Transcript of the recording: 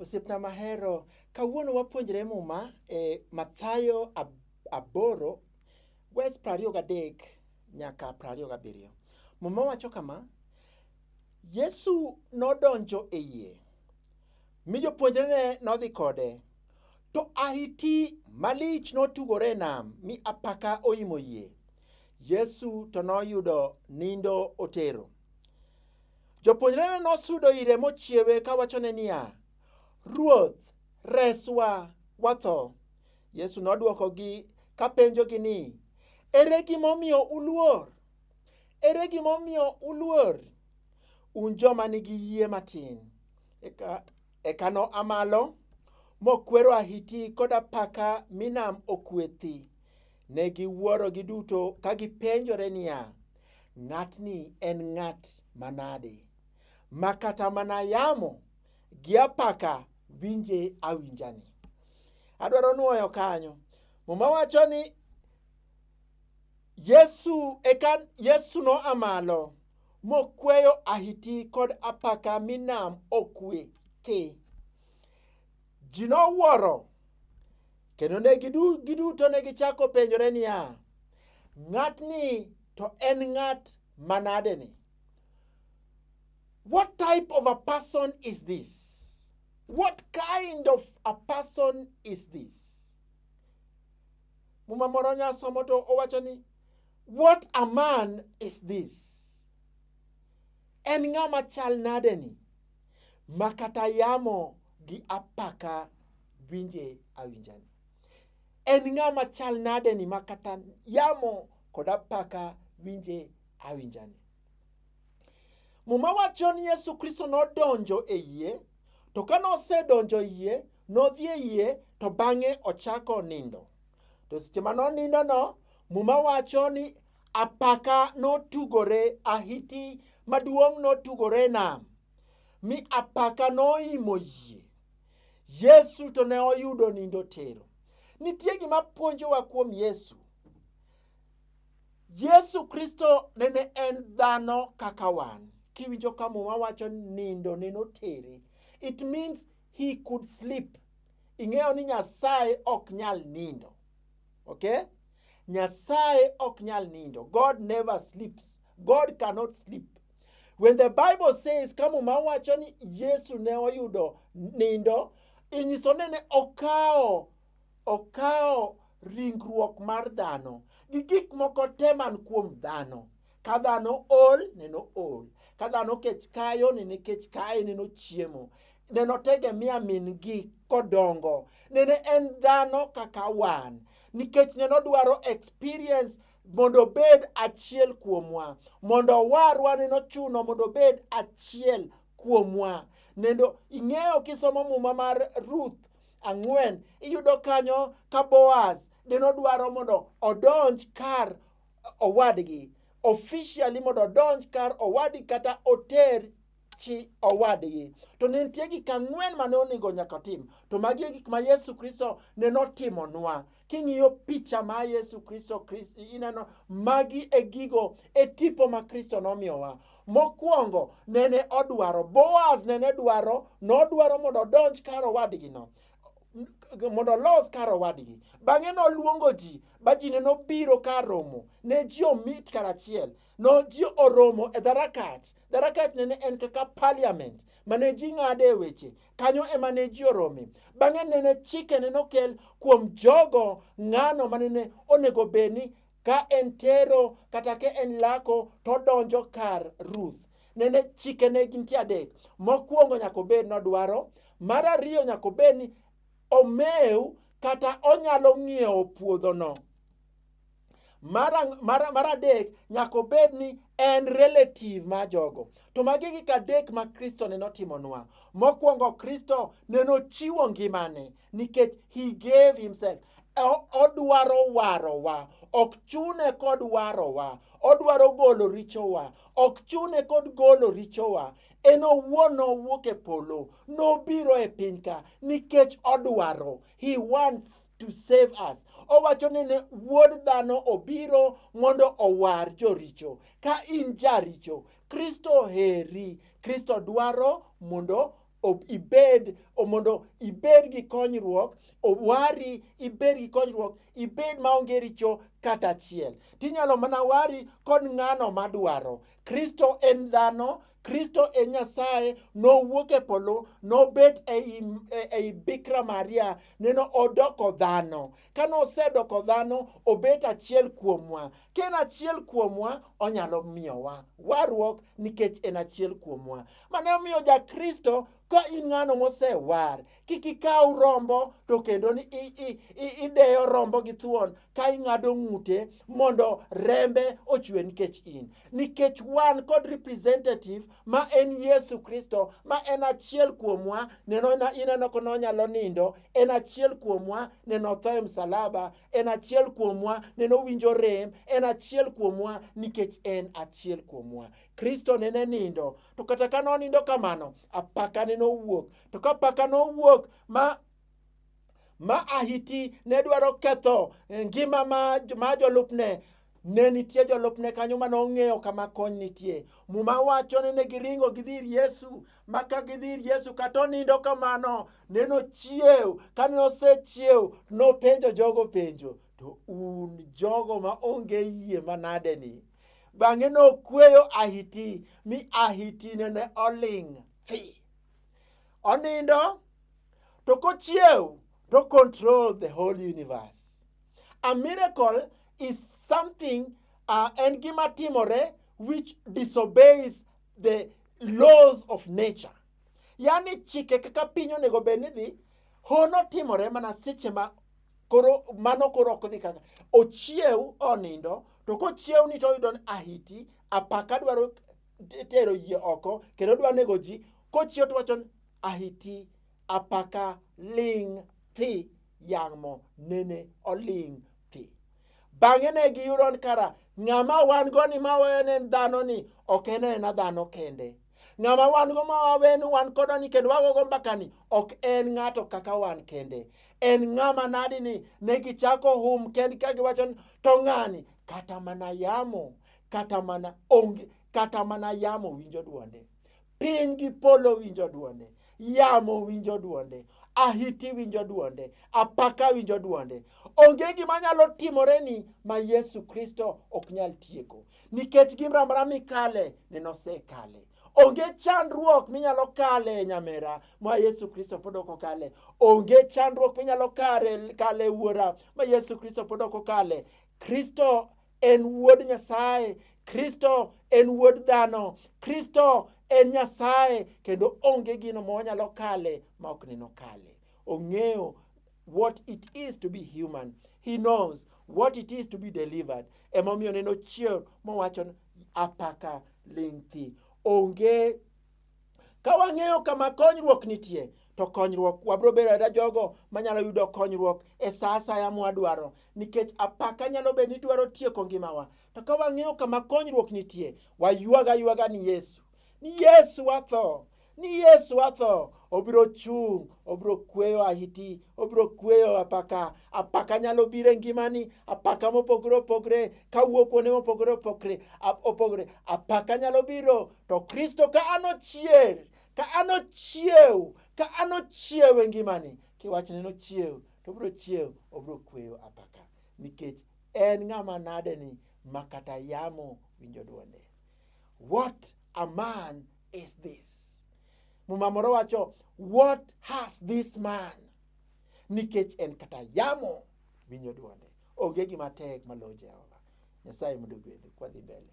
Osiepna mahero, kawuono wapuonjre Muma e Mathayo aboro wes prariyo gadek nyaka prariyo gabiriyo. Muma wacho kama, Yesu nodonjo e yie mi jopuonjrene nodhi kode. To ahiti malich notugore e nam, mi apaka oimo yie. Yesu to noyudo nindo otero. Jopuonjrene nosudo ire mochiewe kawachone niya, Ruoth, reswa, watho. Yesu nodwokogi kapenjogi ni, Ere gimomiyo uluor? Ere gimomiyo uluor? Un joma nigi yie matin. Eka, eka noa malo mokwero ahiti kod apaka mi nam okwe thi. Ne giwuoro giduto ka gipenjore niya, ng'atni en ng'at manade ma kata mana yamo gi apaka winje awinjani. Adwaro nwoyo kanyo. Muma wacho ni Yesu eka Yesu noa malo mokweyo ahiti kod apaka mi nam okwe thi. Ji nowuoro kendo ne giduto ne gichako penjore niya, ng'atni to en ng'at manadeni? What type of a person is this? What kind of a person is this? Muma moro nyasomo to owacho ni what a man is this? En ng'a machal nade ni ma kata yamo gi apaka winje awinjani? En ng'a machal nade ni ma kata yamo kod apaka winje awinjani? Muma wacho ni Yesu Kristo nodonjo e yie, to ka nosedonjo e yie, nodhi e yie, to bang'e ochako nindo. To seche ma nonindono, Muma wacho ni apaka notugore, ahiti maduong' notugore e nam, mi apaka noimo yie. Yesu to ne oyudo nindo tero. Nitie gima puonjowa kuom Yesu. Yesu Kristo nene en dhano kaka wan. Kiwinjo ka muma wacho nindo neno teri, it means he could sleep. Ing'eyo ni Nyasaye ok nyal nindo. Okay? Nyasaye ok nyal nindo. God never sleeps. God cannot sleep. When the Bible says ka muma wacho ni Yesu ne oyudo nindo, inyiso nene okawo Okawo ringruok mar dhano gi gik moko te man kuom dhano. Ka dhano ol, neno ol. Ka dhano kech kayo, nene kech kaye, neno chiemo. Neno tegemea min gi kodongo. Nene en dhano kaka wan. Nikech neno dwaro experience mondo obed achiel kuomwa. Mondo owarwa neno chuno mondo obed achiel kuomwa. Nendo ing'eyo kisomo muma mar Ruth ang'wen iyudo kanyo ka Boaz ne nodwaro mondo odonj kar owadgi officially mondo odonj kar owadgi kata oter chi owadgi to ne nitie gik ang'wen ma ne onego nyaka otim to magi e gik ma yesu kristo ne notimonwa King'iyo picha ma Yesu Kristo, Kristo ineno magi e gigo e tipo ma Kristo nomiyowa. Mokwongo nene odwaro, Boaz nene dwaro, nodwaro mondo odonj kar owadgino mondo olos kar owadgi. Bang'e noluongo ji, ba ji ne nobiro kar romo. Ne ji omit karachiel. No ji oromo e dharakach. Dharakach nene en kaka parliament mane ji ng'ade weche. Kanyo ema ne ji orome. Bang'e nene chikene nokel kuom jogo ng'ano ma nene onego bed ni ka en tero kata ka en lako to donjo kar Ruth. Nene chikene gin ti adek. Mokwongo nyaka obed ni odwaro, mar ariyo nyaka obed ni omew kata onyalo ng'iewo puodhono. mar, mar, mar adek nyaka obed ni en relative ma jogo to magi gik adek ma kristo ne notimonwa mokwongo kristo ne nochiwo ngimane nikech he gave himself O- odwaro warowa ok chune kod warowa odwaro golo richowa ok chune kod golo richowa en owuon nowuok e polo nobiro e piny ka nikech odwaro He wants to save us. Owacho ni ne wuod dhano obiro mondo owar joricho. Ka in jaricho, Kristo heri. Kristo dwaro mondo ibed mondo ibed gi konyruok owari ibed gi konyruok ibed maonge richo kata achiel tinyalo mana wari kod ng'ano madwaro kristo en dhano Kristo e Nyasaye nowuok e polo nobet ei, e- ei Bikra Maria neno odoko dhano. Ka nosedoko dhano obet achiel kuomwa. Ka en achiel kuomwa onyalo miyowa warruok nikech en achiel kuomwa. Mane omiyo ja Kristo ka in ng'ano mosewar kik ikaw rombo to kendo ni i- i- i- ideyo rombo gi thuon ka ing'ado ng'ute mondo rembe ochwe nikech in nikech wan kod representative ma en yesu kristo ma en achiel kuomwa neno na- ineno ko nonyalo nindo en achiel kuomwa neno tho e msalaba en achiel kuomwa neno winjo rem en achiel kuomwa nikech en achiel kuomwa kristo nene nindo to kata ka nonindo kamano apaka nene owuok to ka paka nowuok ma ma ahiti ne dwaro ketho eh, ngima ma, ma jolupne ne nitie jolupne kanyo ma nong'eyo kama kony nitie muma wacho ni ne giringo gidhi ir yesu ma ka gidhi ir yesu kata onindo kamano ne nochiew ka ne osechiew nopenjo jogo penjo to un jogo ma onge yie manade ni bang'e nokweyo ahiti mi ahiti nene oling' thi onindo to kochiew to control the whole universe a miracle is something uh, en gima timore which disobeys the laws of nature yani chike kaka piny onego bed ni dhi hono timore mana seche ma koro mano koro ok dhi kaka ochiew onindo to kochiew ni to oyudo ni ahiti apaka dwaro t- tero yie oko kendo odwa nego ji kochiew to wacho ni, ahiti apaka ling' thi yamo nene oling' thi bang'e ne giyudo ni kara ng'ama wan go ni ma wawene en dhano ni ok en ena dhano kende ng'ama wan go ma wawe ni wan kodo ni kendo wagogo mbaka ni ok en ng'ato kaka wan kende en ng'ama nadi ni ne gichako hum kendgi ka giwacho ni to ng'ani kata mana yamo kata mana onge kata mana yamo winjo dwonde piny gi polo winjo dwonde yamo winjo dwonde ahiti winjo dwonde apaka winjo dwonde onge gima nyalo timore ni ma yesu kristo ok nyal tieko nikech gimramra mikale nenosekale onge chandruok minyalo kale nyamera ma yesu kristo pod ok okale onge chandruok minyalo kare kale wuora ma yesu kristo pod ok okale kristo en wuod Nyasaye, Kristo en wuod dhano, Kristo en Nyasaye kendo onge gino ma wanyalo kale ma ok neno kale. Ong'eyo what it is to be human. He knows what it is to be delivered. Emomiyo neno chier mowacho apaka ling' thi. Onge Ka wang'eyo kama konyruok nitie, to konyruok wabiro bedo ada jogo manyalo yudo konyruok e sa asaya mwadwaro nikech apaka nyalo bedo ni dwaro tieko ngimawa to ka wang'eyo kama konyruok nitie waywaga aywaga ni yesu ni yesu watho ni yesu watho obiro chung' obiro kweyo ahiti obiro kweyo apaka apaka nyalo biro e ngimani apaka mopogore opogre kawuok kuonde mopogore opogre opogre apaka nyalo biro to kristo ka an ochier ka an ochiew ka an ochiew e ngimani kiwachne nochiew to obiro chiew obiro kweyo apaka nikech en ng'ama nade ni ma kata yamo winjo dwonde what a man is this muma moro wacho what has this man nikech en kata yamo winjo dwonde onge gima tek maloyo jehova nyasaye mondo ogwedhu kwadhi mbele